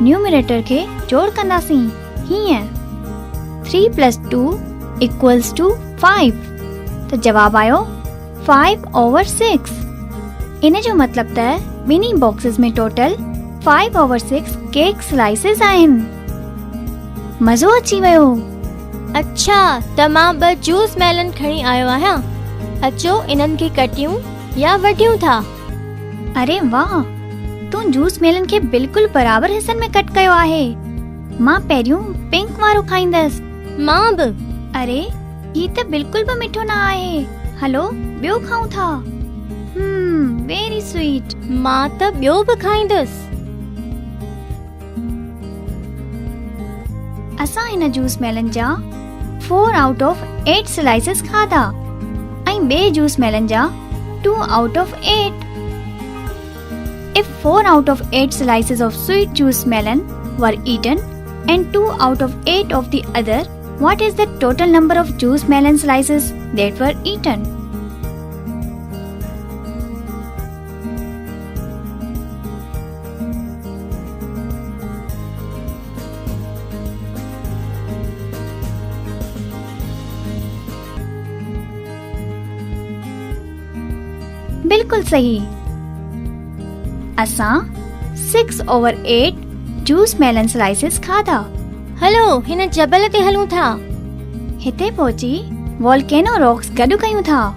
Numerator کي جوڙ ڪنداسين هيئن 3 پلس 2 ايڪولس ٽو 5 ته جواب آيو 5 اوور 6 ان جو مطلب ته ٻنهي boxes ۾ total 5 over 6 cake slices آهن مزو اچي ويو اڇا ته مان ٻه جوس ميلن کڻي آيو آهيان اچو انهن کي ڪٽيون يا وڍيون ٿا اري واھ تون جوس ميلن کي بلڪل برابر حصن ۾ ڪٽ ڪيو آھي مان پهريون پنڪ وارو کائيندس مان به اري هي ته بلڪل به مٺو نه آھي هلو ٻيو کائون ٿا هم ويري سويٽ مان ته ٻيو به کائيندس. اسان هن جوس ميلن جا four out of eight slices کاڌا ۽ ٻئي جوس ميلن جا two out of eight if four out of eight slices of sweet juice melon were eaten and two out of eight of the other what is the total number of juice melon slices that were eaten بلڪل صحيح اسان six over eight juice melon slices کادا هلو هن جبل تي هلون ٿا هتي پهچي والڪينو راڪس گڏ ڪيون ٿا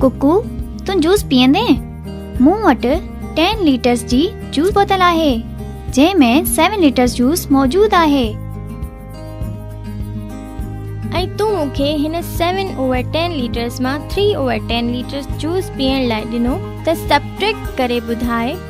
ڪڪو تون جوس پيئندين؟ مون وٽ ٽين ليٽرس جي جوس بوتل آهي جنهن ۾ سيون ليٽرس جوس موجود آهي. ۽ تون مون کي هن سيون اوور ٽين ليٽرس مان three over ten litres juice پيئڻ لاء ڏنو ته سبٽريڪٽ ڪري ٻڌاء.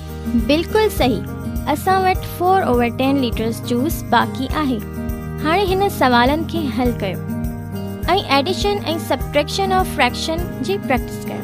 بلڪل صحيح اسان وٽ four over ten litres juice باقي آهي هاڻي هن سوالن کي حل ڪيو ۽ ايڊيشن ۽ سبٽريڪشن آف فريڪشن جي پريڪٽس ڪيو.